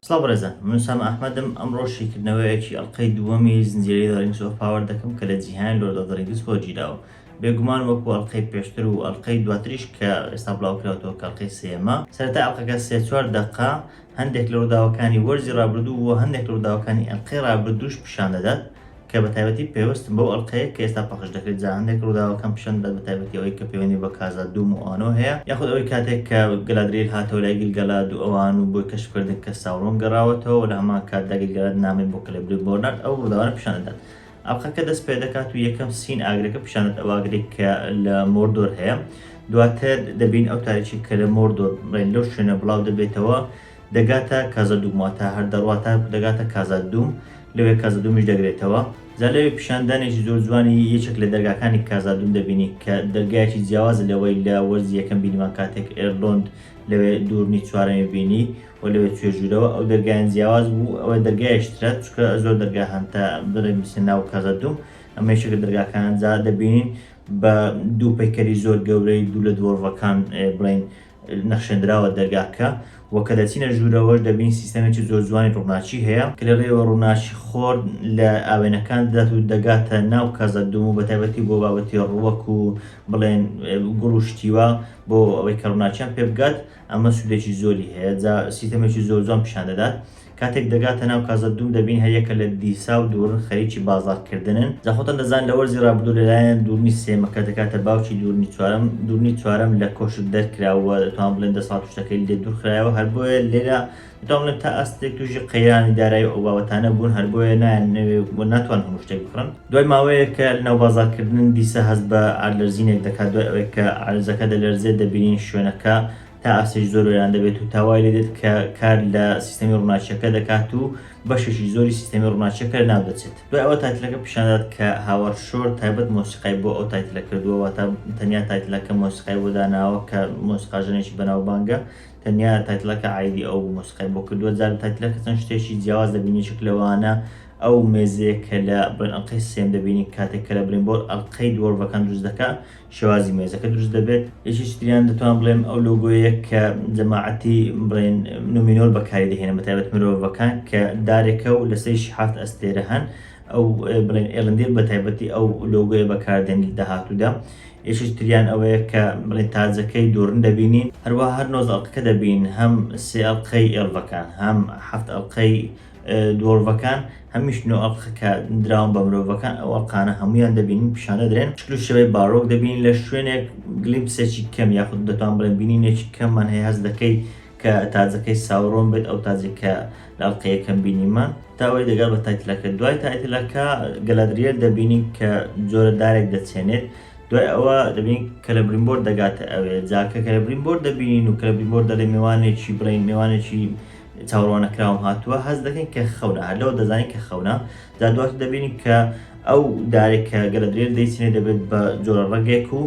سڵاو بەڕێزان من ئوسامە ئەحمەدم ئەمڕۆ شیکردنەوەیەکی ئەڵقەی دووەمی زنجیرەی دەڕینگ سۆف پاوەر دەکەم کە لە جیهان لۆرد ئۆف دە رینگس خۆ گیراوە بێگومان وەکو ئەڵقەی پێشتر و ئەڵقەی دواتریش کە ئێستا بڵاوکراوەتەوە کە ئەڵقەی سێیەمە سەرەتای ئەڵقەکە سێ چوار دەقە هەندێک لە ڕووداوەکانی وەرزی ڕابردوو و هەندێک لە ڕووداوەکانی ئەڵقەی ڕابردووش پیشان دەدات کە بە تایبەتی پەیوەستن بەو ئەڵقەیە کە ئێستا پەخش دەکرێت، جا هەندێک ڕووداوەکەم پیشان دەدات بە تایبەتی ئەوەی کە پەیوەندی بە کازا دووم و ئانۆ هەیە، یاخود ئەوەی کاتێک کە گەلادریل هاتەوە لای گیلگالاد و ئەوان و بۆی کەشف کردن کە ساورۆن گەڕاوەتەوە و لە هەمان کاتدا گیلگالاد نامەی بۆ کلێبریمبۆر نارد ئەو ڕووداوانە پیشان دەدات ئەڵقەکە دەست پێدەکات و یەکەم سین ئاگرەکە پیشان دەدات ئەو ئاگرێک کە لە مۆردۆر هەیە دواتر دەبین ئەو تاریکی کە لە مۆردۆر لەو شوێنە بڵاو دەبێتەوە دەگاتە کازادوم واتە هەر دەڕوا تاکو دەگاتە کازادوم لەوێ کازادومیش دەگرێتەوە جا لەوێ پیشاندانێکی زۆر جوانی یەکێک لە دەرگاکانی کازادوم دەبینی کە دەرگایەکی جیاوازە لەوەی لە وەرزی یەکەم بینیمان کاتێک ئێرلۆند لەوێ دوورنی چوارەمی بینی و لەوێ چوێ ژوورەوە ئەو دەرگایان جیاواز بوو ئەوە دەرگایشترە چکە زۆر دەرگا هەنتە بڵێ میسە ناو کازادوم ئەمە یەکێکە دەرگاکان جا دەبینین بە دوو پەیکەری زۆر گەورەی دوو لە دۆڕڤەکان بڵین نەخشێندراوە دەرگاکە و کە دەچینە ژوورەوەش دەبین سیستەمێکی زۆر جوانی ڕووناکی هەیە کە لە ڕێوە ڕووناکی خۆر لە ئاوێنەکان دەدات و دەگاتە ناو کەزە دوم و بەتابەتی بۆ بابەتی ڕووەک و بڵێن گوڵ و شتیوە بۆ ئەوەی کە ڕووناکیان پێ بگات ئەمە سوودێکی زۆری هەیە جا سیستەمێکی زۆر جوان پیشان دەدات کاتێک دەگاتە ناو کازەدوم دەبین هەریەکە لە دیسا و دوورن خەریکی بازاڕکردنن جا خۆتان دەزان لە وەرزی رابردوو لەلایەن دوورنی سێمەکە دەگاتە باوکی دوورنی چوارەم دوورنی چوارەم لە کۆشک دەرکرا و دەتوان بڵێن دەسەڵات و شتەکەی لێ دوورخرایەوە هەر بۆیە لێرە دەتوان بڵێن تا ئاستێک تووشی قەیرانی دارایی و ئەو بابەتانە بوون هەر بۆیە نایانەوێ و ناتوان هەموو شتێک بکڕن دوای ماوەیەک کە لەناو بازاڕکردنن دیسا هەست بە عەرلەرزینێک دەکات دوای ئەوەی کە عەرزەکە دەلەرزێت دەبینین شوێنەکە تا ئاستێکی زۆر وێران دەبێت و تاوای لێ دێت کە کار لە سیستەمی ڕووناچیەکە دەکات و بەشێکی زۆری سیستەمی ڕووناچیەکە ناو دەچێت دوای ئەوە تایتلەکە پیشاندات کە هاوار شۆر تایبەت مۆسیقای بۆ ئەو تایتلە کردووە واتە تەنیا تایتلەکە مۆسیقای بۆ داناوە کە مۆسیقاژەنێکی بەناوبانگە تەنیا تایتلەکە عیدی ئەو مۆسیقای بۆ کردووە جار تایتلەکە چەند شتێکی جیاواز دەبینێکێک لەوانە ئەو مێزەیە کە لە بەرئەنقەی سێم دەبینی کاتێک کە لە برینبۆر ئەڵقەی دووەڕڤەکان دروست دەکە شێوازی مێزەکە دروست دەبێت. یەکێکی تریان دەتوان بڵێم ئەو لۆگۆیە کە جەماعەتی بڵێن نومینۆر بەکاری دەهێنن بە تایبەت مرۆڤەکان کە دارێکە و لەسەریشی حەفت ئەستێرە هەن ئەو بڵێن ئێلندێر بە تایبەتی ئەو لۆگۆیە بەکاردێنی لە داهاتوودا یەکێکی تریان ئەوەیە کە بڵێن تاجەکەی دۆرن دەبینین هەروەها هەر نۆزدە ئەڵقەکە دەبینین هەم سێ ئەڵقەی ئێڵڤەکان هەم حەفت ئەڵقەی دۆڵڤەکان هەمیش نۆ ئەڵقە کە دراون بە مرۆڤەکان ئەو ئەڵقانە هەمویان دەبینین پیشان دەدرێن شکل و شێوەی باڕۆک دەبینین لە شوێنێک گلیمپسێکی کەم یاخود دەتوان بڵێن بینینێکی کەممان هەیە هەست دەکەی کە تاجەکەی ساورۆن بێت ئەو تاجێک کە لە ئەڵقە یەکەم بینیمان تا ئەوەی دەگات بە تایتلەکە دوای تایتلەکە گەلادریەل دەبینین کە جۆرە دارێک دەچێنێت دوای ئەوە دەبینین کە لە بریمبۆر دەگاتە ئەوێ جا کە کە لە بریمبۆر دەبینین و کە لە بریمبۆر دەڵێ مێوانێکی بڵێن مێوانێکی چاوڕواننەکراوم هاتووە هەست دەکەین کە خەونە هەر لەوە دەزانین کە خەونە جا دواتر دەبینین کە ئەو دارێک کە گەلە درێر دەیچێنێ دەبێت بە جۆرە ڕەگێک و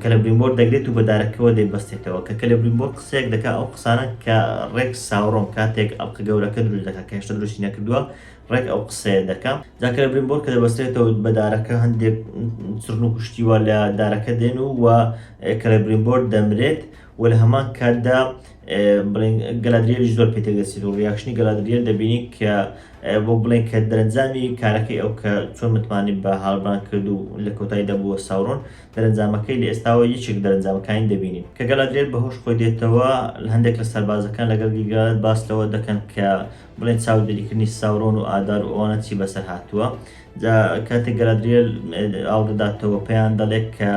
کە لە بریمبۆر دەگرێت و بە دارەکەەوە دەیبەستێتەوە کە کە لە بریمبۆر قسەیەک دەکا ئەو قسانە کە ڕێک ساوڕۆم کاتێک ئەڵقە گەورەکە دروست دەکا کە هێشتا دروستی نەکردووە ڕێک ئەو قسەیە دەکا جاکە لە بریمبۆر کە دەبەستێتەوە بە دارەکە هەندێک چڕن و کوشتیوە لە دارەکە دێن و و کە لە بریمبۆر دەمرێت وە لە هەمان کاتدا بڵێن گەلادریەریش زۆر پێ تێدەچێت و ڕیاکشنی گەلادریەر دەبینی کە بۆ بڵێن کە دەرەنجامی کارەکەی ئەو کە چۆن متمانەی بە هاڵبران کرد و لە کۆتایی دەبووە ساورۆن دەرەنجامەکەی لە ئێستاوە یەکێک دەرەنجامەکانی دەبینین کە گەلادریەر بەهۆش خۆی دێتەوە لە هەندێک لە سەربازەکان لەگەڵ گیلگالاد باس لەوە دەکەن کە بڵێن چاودێریکردنی ساورۆن و ئادار و ئەوانە چی بەسەر هاتووە جا کاتێک گەلادریەر ئاڵ دەداتەوە پێیان دەڵێت کە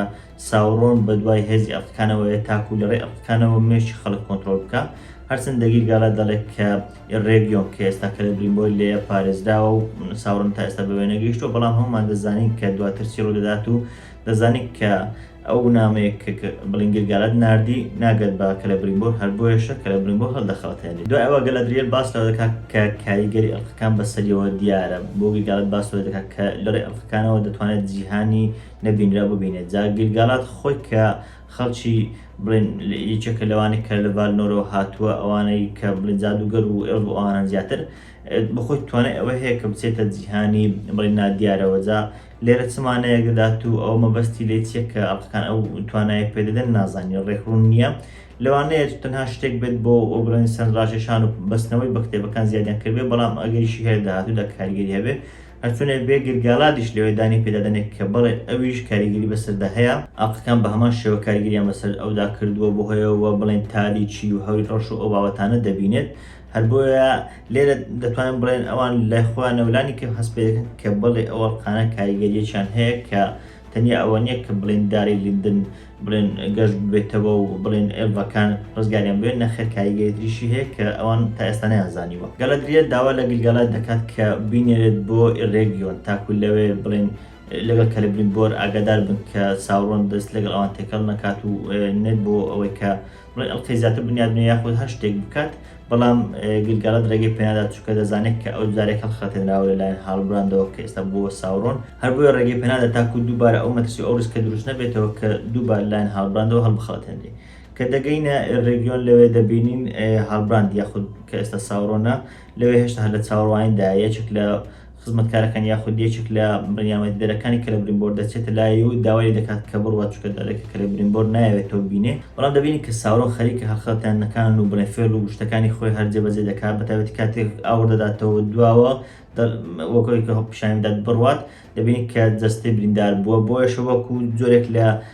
ساورۆن بە دوای هێزی ئەڵقەکانەوەیە تاکوو لە ڕێی ئەڵقەکانەوە مێشکی خەڵک کۆنترۆڵ بکا، هەرچەند دەگیر گالا دەڵێ کە ئیڕێگیۆن کە ئێستا کەلێبریمبۆر لێیە پارێزراوە و ساورۆن تا ئێستا بەوێ نەگەیشتووە، بەڵام هەموومان دەزانین کە دواتر چی ڕوو دەدات و دەزانین کە ئەو نامەیە کە بلینگیر گالاد ناردی ناگات بە کەلێبریمبۆر، هەر بۆیەشە کەلێبریمبۆر هەڵدەخەڵەتێنێ. دوای ئەوە گەلادریێل باس لەوە دەکا کە کاریگەری ئەڵقەکان بەسەریەوە دیارە، بۆگیر گالاد باس لەوە دەکا کە لە ڕێی ئەڵقەکانەوە دەتوانێت جیهانی نەبینرا ببینێت جا گیلگالات خۆی کە خەڵکی بڵێن یەکێکە لەوانەی کە لە ڤالنۆرەوە هاتووە ئەوانەی کە بڵێن جادوگەر و ئێڵف و ئەوانە زیاتر بەخۆی توانای ئەوە هەیە کە بچێتە جیهانی بڵێن نادیارەوە جا لێرە چ مانایەک دەدات و ئەو مەبەستی لێ چییە کە ئەڵقەکان ئەو توانایە پێ دەدەن نازانین ڕێکڕوون نییە لەوانەیە تەنها شتێک بێت بۆ ئەو بڵێن سەرنجڕاکێشان و بەستنەوەی بە کتێبەکان زیادیان کردبێت بەڵام ئەگەریشی هەیە لە داهاتوودا کاریگەری هەبێت هەرچۆنێک بێ گرگالادیش لەوێ دانی پێدا دەنێ کە بەڵێ ئەویش کاریگەری بەسەردا هەیە، ئاقلەکان بە هەمان شێوە کاریگەریان بەسەر ئەودا کردووە بۆ هۆیەوە وە بڵێین تاریکی و هەوری ڕەش و ئەو بابەتانە دەبینێت، هەر بۆیە لێرە دەتوانین بڵێن ئەوان لای خۆیانەوە لانی کەم هەست پێ دەکەن کە بەڵێ ئەو ئەڵقانە کاریگەریەکیان هەیە کە تەنیا ئەوە نیە کە بڵێین داری لیندن بڵێن گەشت بێتەوە و بڵێن ئێڤەکان ڕزگاریان بێت نەخێر کاریگەری تریشی هەیە کە ئەوان تا ئێستا نەیانزانیوە گەلەدریە داوا لە گلگەلا دەکات کە بینێرێت بۆ ئیڕێگیۆن تاکو لەوێ بڵێن لەگەڵ کەلبرین بۆر ئاگادار بن کە ساوڕۆن دەست لەگەڵ ئەوان تێکەڵ نەکات و نێت بۆ ئەوەی کە بڵێ ئەڵقەی زیاتر بنیاد بنێ یاخود هەر شتێک بکات بەڵام گلگەڵت ڕێگەی پێنادات چووکە دەزانێت کە ئەو جارێک هەڵخەتێنراوە لەلایەن هاڵبراندەوە کە ئێستا بۆ ساورۆن هەر بۆیە ڕێگەی پێنادە تاکو دووبارە ئەو مەترسی ئەو ڕسکە دروست نەبێتەوە کە دووبار لایەن هاڵبراندەوە هەڵبخەڵەتێنرێ کە دەگەینە ڕێگیۆن لەوێ دەبینین هاڵبراند یاخود کە ئێستا ساورۆنە لەوێ هێشتا هەر لە چاوەڕوانیدا یەکێک لە خزمەتکارەکان یاخود یەکێک لە بڕیامەتیدەرەکانی کەلە بریمبۆر دەچێتە لای و داوای لێ دەکات کە بڕوات چونکە دارێکە کەلە بریمبۆر نایەوێتەوە ببینێ بەڵام دەبینین کە ساورۆ خەریکە هەڵخەتاندنەکان و بنەفێل و شتەکانی خۆی هەر جێبەجێ دەکات بەتایبەتی کاتێک ئاور دەداتەوە دواوە وەکۆی کە هەڵ پیشانی بدات بڕوات دەبینین کە جەستەی بریندار بووە بۆیەشە وەکو جۆرێک لە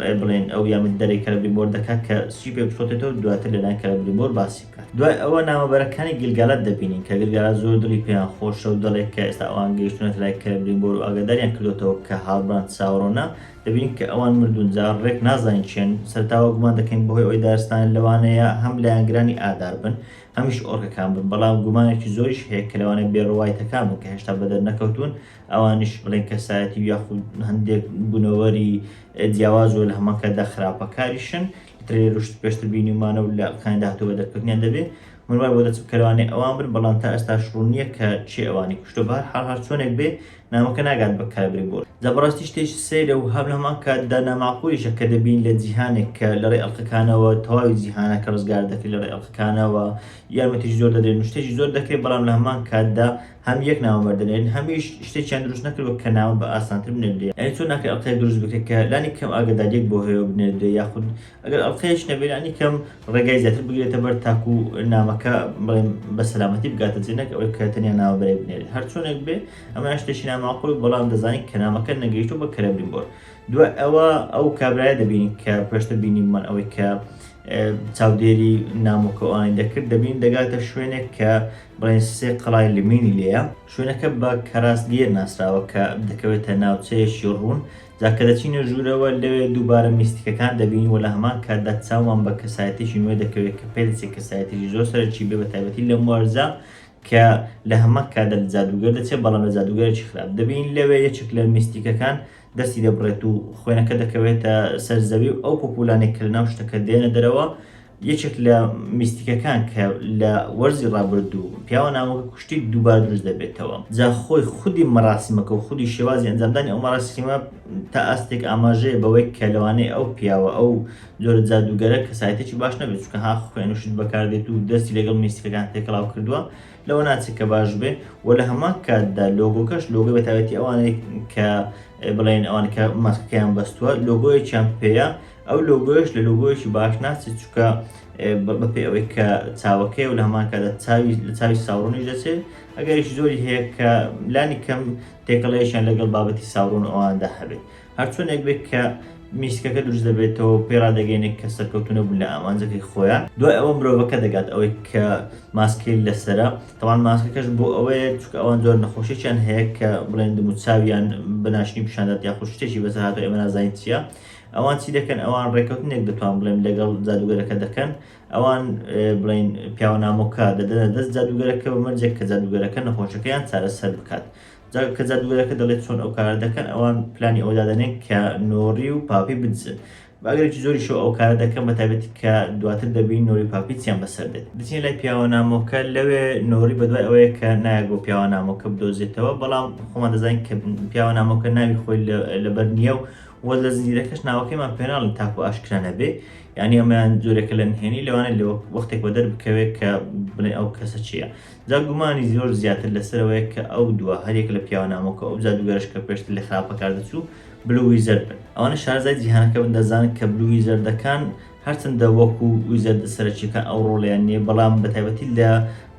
ڕێ بڵێن ئەو یامە دەرەی کەلەبریمۆر دەکات کە سوپێ بسۆتێتەوە دواتر لەلایەن کەلەبریمۆر باسی بکات دوای ئەوە نامەبەرەکانی گلگالات دەبینین کە گلگالات زۆر دڵی پێیان خۆشە و دەڵێت کە ئێستا ئەوان گەیشتونەتە لای کەلەبریمۆر و ئاگاداریان کردۆتەوە کە هاڵبراند ساورۆنە دەبینین کە ئەوان مردون جا ڕێک نازانین چێن سەرتاوە گومان دەکەین بەهۆی ئەوەی دارستان لەوانەیە هەم لایەنگرانی ئادار بن هەمیش ئۆرکەکان بن بەڵام گومانێکی زۆریش هەیە کە لەوانەیە بێڕوایتەکان بن کە هێشتا بەدەرنەکەوتون ئەوانیش بڵێن کەسایەتی و یاخود هەندێک بونەوەری جیاواز و لەهەمەکەدا خراپەکاریشن ترێروشت پێشتر بینیمانە و لە کانی داهاتوو بە دەرکەوتنیان دەبێ من وای بۆ دەچم کەلوانێ ئەوان بن بەڵام تا ئێستا شڕوو نییە کە چێ ئەوانی کوشتە بە هەر حاڵ هەر چۆنێک بێ نامەکە ناگات بە کابری بۆ جا بەڕاستی شتێکی سەیرە و هەر هەمان کاتدا ناماقولیشە کە دەبین لە جیهانێک کە لەڕێ ئەڵقەکانەوە تەواوی جیهانەکە ڕزگار دەکرێت لەڕێ ئەڵقەکانەوە یارمەتیش زۆر دەدرێن و شتێکی زۆر دەکرێت بەڵام لە هەمان کاتدا هەم یەک نامە بەر دەنێرن هەمیش شتێکیان دروست نەکردوە کە نامە بە ئاسانتر بنێردرێ یانی تۆ ناکرێ ئەڵقەیەک دروست بکرێ کە لانی کەم ئاگەداریەک بۆ هەیەو بنێردرێ یاخود ئەگەر ئەڵقەیەش نەبێ لانی کەم ڕێگای زیاتر بگرێتە بەر تاکو نامەکە بڵێم بە سەلامەتی بگاتە جێ نەک ئەوەی کە تەنیا نامە بەرێ بنێرێ هەر چۆنێک بێ ئەمە شتێکی ناماقول بەڵام دەزانین کە نامەکە نەگەیشتو بە کەرەبین بۆر دوای ئەوە ئەو کابرایە دەبینین کە پێشتر بینیمان ئەوەی کە چاودێری نامۆکەوانی دەکرد دەبین دەگاتە شوێنێک کە بەڕێز سێ قەڵای لمینی لێیە، شوێنەکە بە کەراسگێر ناسراوە کە دەکەوێتە ناوچەیەکی ڕوون، جا کە دەچینە ژوورەوە لەوێ دووبارە میستیکەکان دەبین و لە هەمان کاتدا چاومان بە کەسایەتیەکی نوێ دەکەوێت کە پێدەچێت کەسایەتیەکی زۆر سەرەکی بێ بە تایبەتی لەم وەرزە کە لە هەمان کاتدا لە جادووگەر دەچێت بەڵام لە جادووگەرێکی خراپ دەبین لەوێ یەکێک لە میستیکەکان دەستی دەبڕێت و خوێنەکە دەکەوێتە سەر زەوی و ئەو پوپولانەی کە لەناو شتەکە دێنە دەرەوە یەکێک لە میستیکەکان کە لە وەرزی ڕابردوو پیاوە ناوەکە کوشتیک دووبارە دروست دەبێتەوە جا خۆی خودی مەراسیمەکە و خودی شێوازی ئەنجامدانی ئەو مەراسیمە تا ئاستێک ئاماژەیە بەوەی کە لەوانەیە ئەو پیاوە ئەو جۆرە جادووگەرە کەسایەتێکی باش نەبێت چونکە ها خوێن و شت بەکاردێت و دەستی لەگەڵ میستیکەکان تێکەڵاو کردووە لەوە ناچێت کە باش بێ و لە هەمان کاتدا لۆگۆکەش لۆگۆی بەتایبەتی ئەوانەی کە بڵێن ئەوان کە ماسکەکەیان بەستووە لۆگۆیەکیان پێیە ئەو لۆگۆیەش لە لۆگۆیەکی باش ناچێت چونکە بەپێی ئەوەی کە چاوەکەی و لە هەمان کاتدا چاوی لە چاوی ساوڕنیش دەچێت ئەگەریش زۆری هەیە کە لانی کەم تێکەڵەیەشیان لەگەڵ بابەتی ساوڕن و ئەواندا هەبێت هەرچۆنێک بێت کە میسکەکە دروست دەبێتەوە و پێی ڕادەگەینێک کە سەرکەوتو نەبوون لە ئامانجەکەی خۆیان دوای ئەوە مرۆڤەکە دەگات ئەوەی کە ماسکەی لەسرە تەوان ماسکەکەش بۆ ئەوەیە چکە ئەوان زۆر نەخۆشییان هەیە کە بڵێن دم و چاویان بەناشنی پیشاندات یاخود شتێکی بەسەرهاتەوە ئێمە نازانین چییە ئەوان چی دەکەن ئەوان ڕێکەوتنێک دەتوان بڵێم لەگەڵ جادوگەرەکە دەکەن ئەوان بڵین پیاوە نامۆکە دەدەنە دەست جادوگەرەکە بە مەرجێک کە جادوگەرەکە نەخۆشەکەیان چارەسەر بکات کە جادوگەرەکە دەڵێت چۆن ئەو کارە دەکەن ئەوان پلانی ئەودادەنێن کە نۆری و پاپی بدزن باگرێکی زۆری شو ئەو کارە دەکەم بە تابێت کە دواتر دەبین نۆری پاپیچیان بەسەر دێت دچین لای پیاوە نامۆکە لەوێ نۆری بەدوای ئەوەیە کە نایە بۆ پیاوە نامۆکە بدۆزێتەوە بەڵام خۆمان دەزانین کە پیاوە نامۆکە ناوی خۆی لەبەر نییە و وە لە زنجیرەکەش ناوەکەیمان پێناڵن تاکو ئاشکرا نەبێ یعنی ئەمەیان جۆرێکە لە نهێنی لەوانە لە وەختێک بە دەربکەوێت کە بڵێ ئەو کەسە چییە جا گومانی زۆر زیاتر لەسەرەوەیە کە ئەو دووە هەریەک لە پیاوە نامۆکە ئەو جادوگەرش کە پێشتر لە خراپە کار دەچوو بلو ویزەرد بن ئەوانە شارزای جیهانەکە بن دەزانن کە بلو ویزەردەکان هەرچەندە وەکو ویزەردە سەرەکیەکان ئەو ڕۆڵیان نییە بەڵام بەتایبەتی لە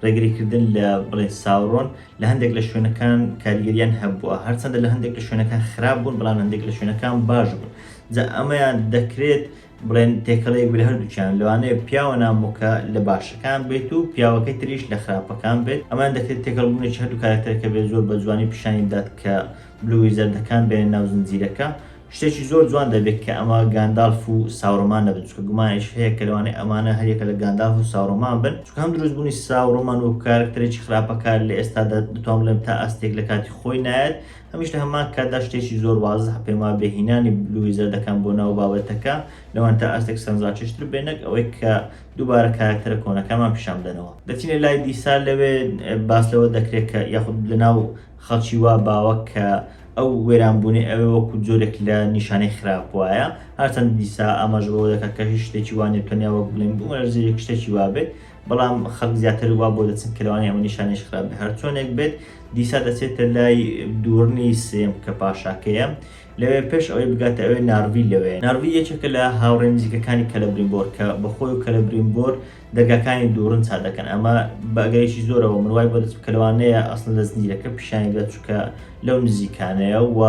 ڕێگریکردن لە بڵێ ساورۆن لە هەندێک لە شوێنەکان کاریگەریان هەبووە هەرچەندە لە هەندێک لە شوێنەکان خراپ بوون بەڵام هەندێک لە شوێنەکان باش بوون جا ئەمەیان دەکرێت بڵێن تێکەڵەیەک بە هەردووچیان لەوانەیە پیاوە نامۆکە لە باشەکان بێت و پیاوەکەی تریش لە خراپەکان بێت ئەمان دەکرێت تێکەڵ بوونێکی هەردوو کارەکتەرەکە بێت زۆر بە جوانی پیشانی بدات کە بلوی زەردەکان بێنە ناو زنجیرەکە شتێکی زۆر جوان دەبێت کە ئەمە گاندالف و ساورۆمان نەبن چونکە گومانێکش هەیە کە لەوانەیە ئەمانە هەریەکە لە گاندالف و ساورۆمان بن چونکە هەم دروستبوونی ساورۆمان وەکو کارەکتەرێکی خراپەکار لە ئێستادا دەتوان بڵێم تا ئاستێک لە کاتی خۆی نایەت هەمیش لە هەمان کاتدا شتێکی زۆر وازح پێم وابێ هینانی بلووی زەردەکان بۆ ناو بابەتەکە لەوان تا ئاستێک سەرنجڕاکێشتر بێ نەک ئەوەی کە دووبارە کارەکتەرە کۆنەکانمان پیشان بدەنەوە دەچینە لای دیسا لەوێ باس لەوە دەکرێت کە یاخود لەناو خەڵکی وا باوە کە ئەو وێرانبوونەی ئەوێ وەکوو جۆرێک لە نیشانەی خراپ وایە، هەرچەند دیسا ئاماژە بەوە دەکات کە هیچ شتێکی وا نییە، تەنیا وەک بڵێین بوومەلەرزەی یەک شتێکی وا بێت، بەڵام خەڵک زیاتر وا بۆ دەچن کە لەوانەیە ئەمە نیشانەیەکی خراپ بێت. هەرچۆنێک بێت، دیسا دەچێتە لای دووڕنی سێیەم کە پاشاکەیە لەوێ، پێش ئەوەی بگاتە ئەوێ نارڤی لەوێیە. نارڤی یەکێکە لە هاوڕێ نزیکەکانی کەلەبریمبۆر کە بە خۆی و کەلەبریمبۆر دەرگاکانی دووڕن چا دەکەن ئەمە بە ئەگەرێکی زۆرەوە من وای بۆ دەست کە لەوانەیە ئەسڵ لە زنجیرەکە پیشانی بدات چونکە لەو نزیکانەیە و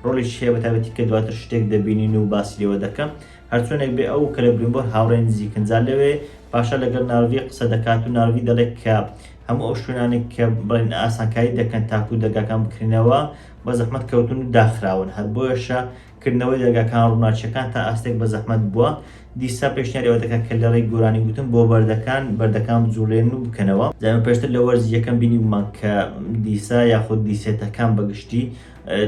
ڕۆڵیش هەیە بە تایبەتی کە دواتر شتێک دەبینین و باسی لێوە دەکەن هەرچۆنێک بێ ئەو کە لە بریمبۆر هاوڕێی نزیکن جا لەوێ پاشا لەگەڵ ناروی قسە دەکات و ناروی دەڵێت کە هەموو ئەو شوێنانێک کە بڵێن ئاسانکاری دەکەن تاکو دەرگاکان بکرێنەوە بە زەحمەت کەوتون و داخراون هەر بۆیەشە کردنەوەی دەرگاکان ڕووناکییەکان تا ئاستێک بە زەحمەت بووە، دیسا پێشنیاری ئەوە دەکات کە لەڕێی گۆرانی گوتن بۆ بەردەکان، بەردەکان بجوڵێن و بکەنەوە. جا ئێمە پێشتر لە وەرزی یەکەم بینیبوومان کە دیسا یاخود دیسێتەکان بە گشتی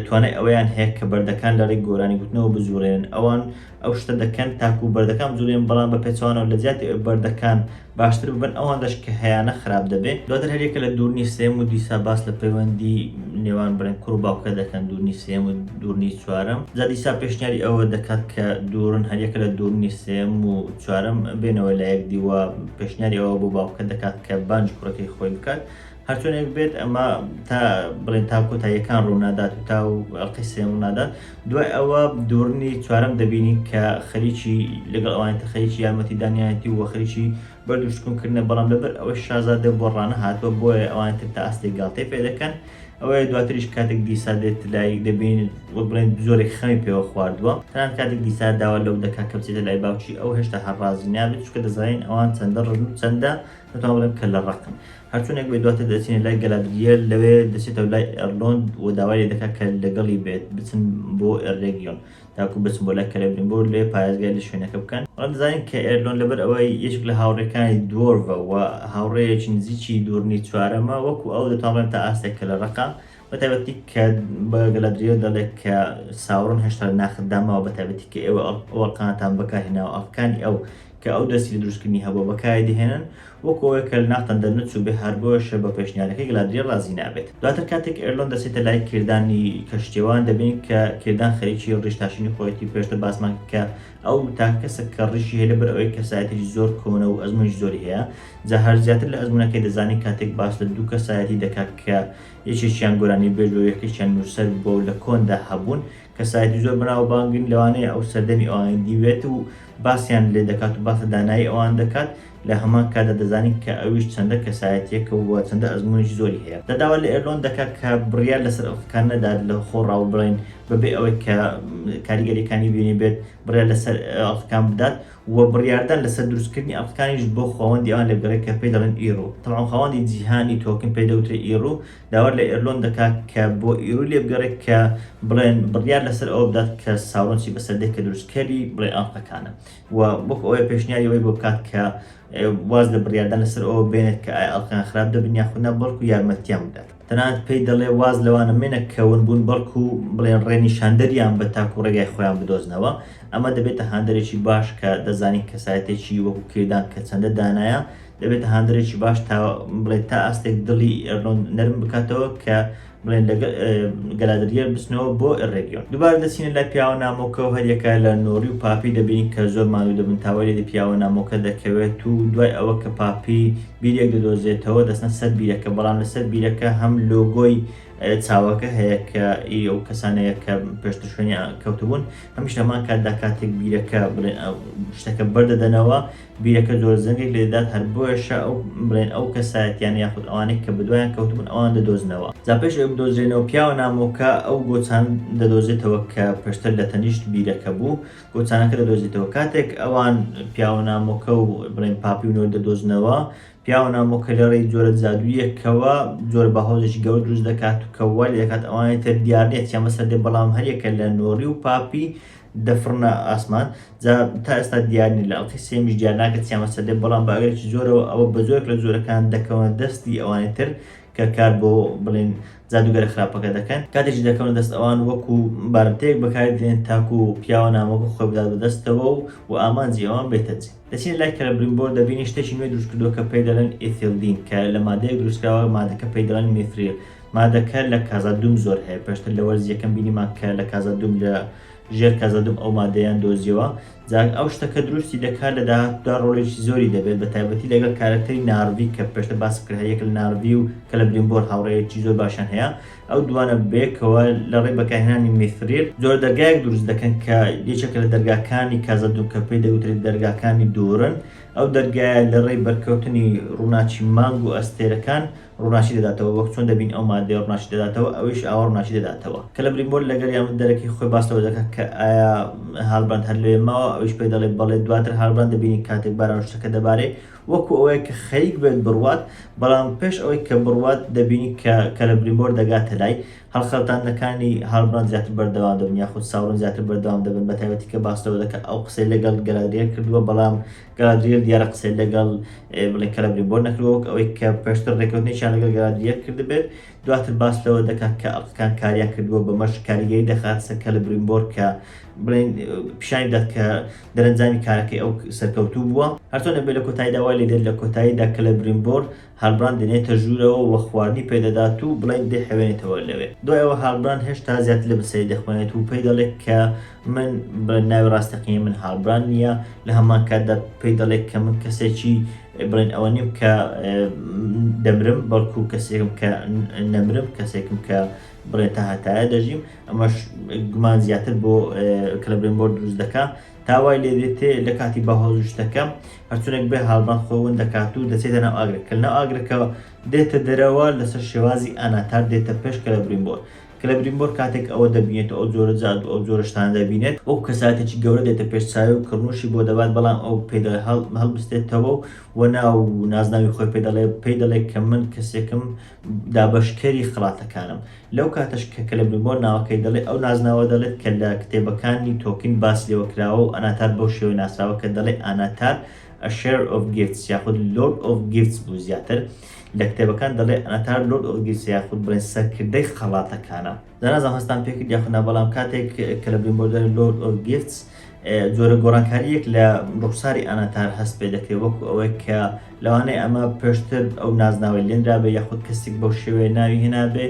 توانای ئەوەیان هەیە کە بەردەکان لەڕێی گۆرانی گوتنەوە بجوڵێنن، ئەوان ئەو شتە دەکەن تاکوو بەردەکان بجوڵێنن، بەڵام بە پێچەوانەوە لە جیاتی ئەوەی بەردەکان باشتر ببن ئەوەندەش کە هەیانە خراپ دەبێ دواتر هەر یەکە لە دوور نیش سێم و دیسا باس لە پەیوەندی نێوان بڵێن کوڕ و باوکە دەکەن دوور نیش سێم و دوور نیش چوارەم جا دیسا پێشنیاری ئەوە دەکات کە دوورن هەر یەکە لە دوور نیش سێم و چوارەم بێنەوە لایەک دی و پێشنیاری ئەوە بۆ باوکە دەکات کە بانگی کوڕەکەی خۆی بکات هەرچۆنێک بێت ئەمە تا بڵێن تا کۆتاییەکان ڕوونادات و تا و ئەڵقی سێم ڕوونادات دوای ئەوە دوورنی چوارم دەبینی کە خەریکی لەگەڵ ئەوانێتە خەریکی یارمەتی دانیایەتی و خەریکی بەردوشتکونکردە بەڵام لەبەر ئەوە شازادە بۆ ڕانە هاتووە بۆیە ئەوانتر تا ئاستی گاڵتەی پێ دەکەن ئەوەیە دواتریش کاتێک دیسا دێت لای دەبین وە بڵێن زۆرێک خەمی پێوە خواردووە تەنان کاتێک دیسا داوا لەو دەکا کە بچێتە لای باوکی ئەو هێشتا هەر ڕازی نابێت چکە دەزانین ئەوان چەندە ڕژن و چەندە دەتوان بڵێن کە لە ڕقن هەرچۆنێک بێت دواتر دەچێنە لای گەلادریێل لەوێ دەچێتەوە لای ئێرلۆند و داوای لێ دەکات کە لەگەڵی بێت بچن بۆ ئێرێگیۆن تاکو بچن بۆ لای کەلێبریمبۆر لەوێ پارێزگای لە شوێنەکە بکەن. بەڵام دەزانین کە ئێرلۆن لەبەر ئەوەی یەکێک لە هاوڕێکانی دوۆرڤە و هاوڕێیەکی نزیکی دوورنی چوارەمە وەکو ئەو دەتوانڕێن تا ئاستێک کە لە ڕەقە بە تایبەتی کە بە گەلادریۆ دەڵێت کە ساوڕن هێشتا لە ناخت داماوە بە تایبەتی کە ئێوە ئەوەڵقانتان بەکارهێناوە ئەڵقانی ئەو کە ئەو دەستی لە دروستکردنی هەبوو بەکاری دەهێنن وەکەوەی کە لە ناختان دەرنەچ و بێ هەربۆشە بە پێشنیارەکەی گەلادریە ڕازی نابێت دواتر کاتێک ئێرلۆن دەسێتە لای کردانی کەشتێوان دەبین کە کردان خەریکی ڕیشتاشینی خۆیەتی پێشتە باسمان کە ئەو تاک کەسە کە ڕیشی هەیە لەبەر ئەوەی کەسایەتی زۆر کۆنە و ئەزمونی زۆری هەیە جا هەر زیاتر لە ئەزمونونەکەی دەزانین کاتێک باس لە دوو کەسایەتی دەکات کە یەکێکیان گۆرانی بێژ بوو یەکێکیان نووسەر بوو و لە کۆندا هەبوون کەسایەتی زۆر بەناوبانگن لەوانەیە ئەو سەردەمی ئەوانی دیبێت و باسیان لێ دەکات و باس لە دانایی ئەوان دەکات لە هەمان کاتدا دەزانین کە ئەویش چەندە کەسایەتییەکە و چەندە ئەزموونێکی زۆری هەیە دا داوا لە ئێرلۆن دەکات کە بڕیار لەسەر ئەو خەکان نەدات لە خۆ ڕاوبڵێن بەبێ ئەوەی کە کاریگەرییەکانی بینیبێت بڕیار لەسەر ئەڵخکان بدات وە بڕیاردان لەسەر دروستکردنی ئەڵقەکانیش بۆ خواوەندی ئەوان دەگەڕێت کە پێی دەڵێن ئیڕو، تەبعەن خواوەندی جیهانی تۆکن پێی دەوترێت ئیڕو، داوا لە ئێرلۆن دەکات کە بۆ ئیڕوی لێبگەڕێت کە بڵێن بڕیار لەسەر ئەوە بدات کە ساورۆن چی بەسەر دێت کە دروستکەری بڵێن ئەڵقەکانە و وەک ئەوەیە پێشنیاری ئەوەی بۆ بکات کە واز لە بڕیاردان لەسەر ئەوە بێنێت کە ئایا ئەڵقەکان خراپ دەبن یاخود نا بەڵکو یارمەتیان بدات. تەنانەت پێی دەڵێ واز لەوانە منە کە ون بوون بەڵکو بڵێن ڕێنیشاندەریان بە تاکو ڕێگای خۆیان بدۆزنەوە ئەمە دەبێتە هاندەرێکی باش کە دەزانین کەسایەتێکی وەکو کردان کە چەندە دانایە دەبێتە هاندەرێکی باش تا بڵێت تا ئاستێک دڵی ئەرنۆن نەرم بکاتەوە کە بڵێن لە گەلادریە بچنەوە بۆ ڕێگیۆن دوبار دەچینە لە پیاوە نامۆکە و هەریەکە لە نۆری و پاپی دەبین کە زۆر ماوی دەبن تاوەێ لە پیاوە نامۆکە دەکەوێت و دوای ئەوە کە پاپی بیرێک دەدۆزێتەوە دەچنە سەر بیرەکە بەڵام لەسەر بیرەکە هەم لۆگۆی چاوەکە هەیە کە ئی ئەو کەسانەیە کە پێشتر شوێنی کەوتبوون هەمیش لەمان کاتدا کاتێک بیرەکە بڵێن شتەکە بەردەدەنەوە بیرەکە زۆر زەنگێک لێدات هەر بۆیشە ئەو بڵێن ئەو کەسایەتیان یاخود ئەوانەی کە بدوایان کەوتبوون ئەوان دەدۆزنەوە جا پێش ئەو بدۆزرێنەوە پیاوە نامۆکە ئەو گۆچان دەدۆزێتەوە کە پێشتر لە تەنیشت بیرەکە بوو گۆچانەکە دەدۆزیتەوە. کاتێک ئەوان پیاوە نامۆکە و بڵێن پاپی و نۆر دەدۆزنەوە، پیاوە نامۆکە لە ڕێی جۆرە جادوویەکەوە جۆر بە هۆزێکی گەورە دروست دەکات و کە وا لێ دەکات ئەوانی تر دیار نییە چیان بەسەر دێ بەڵام هەر یەکە لە نۆری و پاپی دەفڕنە ئاسمان جا تا ئێستا دیار نییە لە ئەڵقەی سێیەمیش دیار ناکرێت چیان بەسەر دێ بەڵام بە ئەگەرێکی زۆرەوە ئەوە بە جۆرێک لە جۆرەکان دەکەونە دەستی ئەوانی تر کە کار بۆ بڵێین جادووگەرە خراپەکە دەکەن، کاتێکیش دەکەونە دەست ئەوان وەکو بارمتەیەک بەکاری دەێن تاکو پیاوە نامۆکە خۆی بدات بە دەستەوە و و ئامانجی ئەوان بێتە جێ. دەچینە لای کەلەبریمبۆر دەبینین شتێکی نوێ دروست کردووە کە پێی دەڵێن ئیثیلدین کە لە مادەیەک دروست کراوە مادەکە پێی دەڵێن میثریل مادەکە لە کازادوم زۆر هەیە پێشتر لە وەرزی یەکەم بینیمان کە لە کازادوم لە ژێر کەزەدم ئەو مادەیەیان دۆزیەوە جا ئەو شتە کە دروستی دەکات لە داهاتوودا ڕۆڵێکی زۆری دەبێت بە تایبەتی لەگەڵ کارەکتەری نارڤی کە پێشتر باس کرد هەریەک لە نارڤی و کەلەبریمبۆر هاوڕێیەکی زۆر باشیان هەیە ئەو دووانە بەیەکەوە لە ڕێی بەکارهێنانی میثریر جۆرە دەرگایەک دروست دەکەن کە یەکێکە لە دەرگاکانی کازەدوم کە پێی دەگوترێت دەرگاکانی دورن ئەو دەرگایە لە ڕێی بەرکەوتنی ڕووناکی مانگ و ئەستێرەکان ڕووناکی دەداتەوە، وەک چۆن دەبین ئەو ماددەیە ڕووناکی دەداتەوە، ئەویش ئاوا ڕووناکی دەداتەوە. کەلە بریمۆر لە گەڕی یامە دەرەکی خۆی باس لەوە دەکات کە ئایا هالبراند هەر لەوێ ماوە، ئەویش پێی دەڵێت بەڵێ، دواتر هالبراند دەبینین کاتێک باران شتەکە دەبارێ وەکو ئەوەیە کە خەریک بێت بڕوات، بەڵام پێش ئەوەی کە بڕوات دەبینین کە کەلە بریمۆر دەگاتە لای. هەڵخەلتاندنەکانی هالبراند زیاتر بەردەوام دەبن یاخود ساورن زیاتر بەردەوام دەبن، بەتایبەتی کە باس لەوە دەکات ئەو قسەی لەگەڵ گەلادریەر کردووە بەڵام گالادریەل دیارە قسەی لەگەڵ بڵێ کەلەبریمبۆر نەکردووە وەک ئەوەی کە پێشتر ڕێککەوتنێکیان لەگەڵ گالادریەل کردبێت، دواتر باس لەوە دەکات کە ئەڵقەکان کاریان کردووە بەمەش کاریگەری دەخاتە سەر کەلەبریمبۆر کە بڵێن پیشانی بدات کە دەرەنجامی کارەکەی ئەو سەرکەوتوو بووە. هەرچۆنێک بێت لە کۆتاییدا وای لێدێت لە کۆتاییدا کەلەبریمبۆر هالبراند دەنێتە ژوورەوە و خواردنی پێ دەدات و بڵین دەیحەوێنێتەوە لەوێ. دوای ئەوە هالبراند هێشتا زیاتر لە برسێتی دەخوێنێت و پێی دەڵێت کە من، بڵێن ناوی ڕاستەقینەی من هالبراند نییە، لە هەمان کاتدا پێی دەڵێت کە من کەسێکی، بڵێن ئەوە نیم کە دەمرم، بەڵکو کەسێکم کە نەمرم، کەسێکم کە، بڵێن تاهەتایە دەژیم، ئەمەش گومان زیاتر بۆ کلبرینبۆر دروست دەکات. تا وای لێ دێتێ لە کاتی بەهۆز و شتەکە هەرچونێک بێ هاڵبەند خۆی ون دەکات و دەچێتە ناو ئاگرەکە کە لەناو ئاگرەکەوە دێتە دەرەوە لەسەر شێوازی ئاناتار دێتە پێش کەلەبرینبۆر کەلەبرینبۆر کاتێک ئەوە دەبینێت و ئەو جۆرە جادو ئەو جۆرە شتانە دەبینێت وەکو کەسایەتێکی گەورە دێتە پێش چاوی و کڕنوشی بۆ دەبات بەڵام ئەو پێی دەڵێ هەڵ هەڵبستێتەوە و ناو و نازناوی خۆی پێ دەڵێ پێی دەڵێ کە من کەسێکم دابەشکەری خڵاتەکانم. لەو کاتەش کە کلبنبۆر ناوەکەی دەڵێ، ئەو نازناوە دەڵێت کە لە کتێبەکانی تۆکین باس لێوە کراوە و ئەناتار بەو شێوەیە ناسراوە کە دەڵێ ئاناتار A Share of Gifts یاخود Lord of Gifts بوو زیاتر لە کتێبەکان دەڵێ ئەناتار Lord of Gifts یاخود بڵێن سەرکردەی خەڵاتەکانە. نازانم هەستان پێکرد یاخود نا بەڵام کاتێک کە لە بریمبۆردەر لۆرد ئۆف گیفتس جۆرە گۆڕانکاریەک لە ڕوخساری ئەناتار هەست پێ دەکرێت وەکو ئەوەی کە لەوانەیە ئەمە پێشتر ئەو نازناوی لێنرابێ یاخود کەسێک بەو شێوەیە ناوی هێنابێ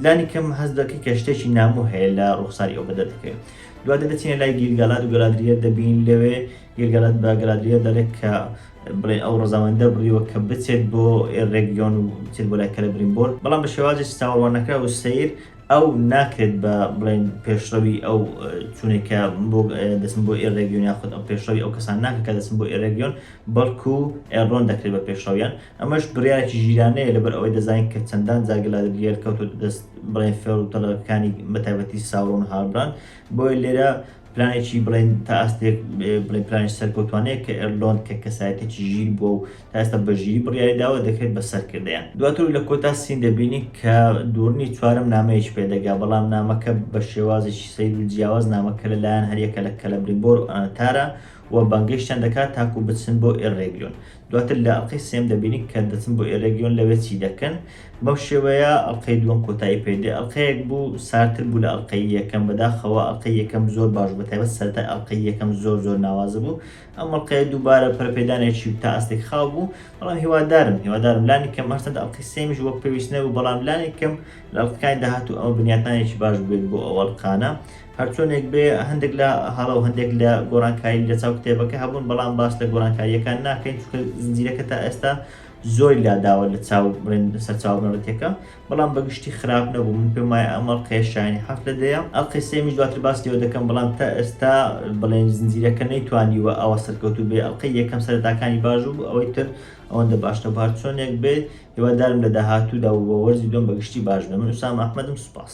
لانی کەم هەست دەکەی کە شتێکی نامۆ هەیە لە ڕوخساری ئەو بەدە دەکرێت دواتە دەچینە لای گیرگەلات و گەلادریەت دەبین لەوێ گیرگەلات بە گەلادریە دەڵێت کە بڵێ ئەو ڕەزامەندە بڕیوە کە بچێت بۆ ڕێگیۆن و بچێت بۆ لای کەلەبرینبۆر، بەڵام بە شێوازێکی چاوەڕواننەکراو و سەیر ئەو ناکرێت بە بڵێن پێشڕەوی ئەو چونێک کە بۆ دەچن بۆ ئێ ڕێگیۆن یاخود ئەو پێشڕەوی ئەو کەسان ناکرێت کە دەچن بۆ ئێ ڕێگیۆن، بەڵکو ئێڕۆن دەکرێت بە پێشڕەویان، ئەمەش بڕیارێکی ژیرانەیە لەبەر ئەوەی دەزانین کە چەندان جار گلادرییەل کەوتۆتە دەست بڵێن فێڵ و تەڵەکانی بە تایبەتی ساورۆن و هالبراند، بۆیە لێرە پلانێکی بڵێن تا ئاستێک بڵێ پلانێکی سەرکەوتوانەیە کە ئێردۆن کە کەسایەتێکی ژیر بووە و تا ئێستا بە ژیری بڕیاری داوە دەکرێت بە سەرکردەیان. دواتر لە کۆتا سین دەبینین کە دوورنی چوارەم نامەیەکی پێ دەگا بەڵام نامەکە بە شێوازێکی سەیر و جیاواز نامەکە لە لایەن هەریەکە لە کەلەبریمبۆر و ئانتارا و بانگێشتیان دەکات تاکوو بچن بۆ ئێررێگیۆن دواتر لە ئەڵقەی سێیەم دەبینین کە دەچن بۆ ئێرەگیۆن لەوێ چی دەکەن بەم شێوەیە ئەڵقەی دووەم کۆتایی پێ دێ ئەڵقەیەک بوو سارتر بوو لە ئەڵقەی یەکەم بەداخەوە ئەڵقەی یەکەم زۆر باش بوو بەتایبەت سەرەتای ئەڵقەی یەکەم زۆر زۆر ناوازە بوو ئەم ئەڵقەیە دووبارە پەرەپێدانێکی تا ئاستێک خاو بوو بەڵام هیوادارم هیوادارم لانی کەم هەرچەند ئەڵقەی سێمیش وەک پێویست نەبوو بەڵام لانی کەم لە ئەڵقەکانی داهاتوو ئەوە بنیاتنانێکی باش بێت بۆ ئەو ئەڵقانە هەرچۆنێک بێ هەندێک لە هەڵە و هەندێک لە گۆرانکاری لەچاو کتێبەکە هەبوون بەڵام باس لە گۆرانکارییەکان ناکەین چونکە زنجیرەکە تا ئێستا زۆری لاداوە لە چاو بڵێن سەرچاو بنەڕەتیەکە بەڵام بەگشتی خراپ نەبوو من پێم وایە ئەم ئەڵقەیە شایانی حەفت لە دەیە ئەڵقەی سێمیش دواتر باس لێوە دەکەم بەڵام تا ئێستا بڵێن زنجیرەکە نەیتوانیوە ئەوە سەرکەوتوو بێ ئەڵقەی یەکەم سەرتاکانی باش بوو ئەوەی تر ئەوەندە باش نەبوو هەرچۆنێک بێ هیوادارم لە داهاتوودا و بە وەرزی دوم بەگشتی باش بێ من ئوسام ئەحمەدم سوپاس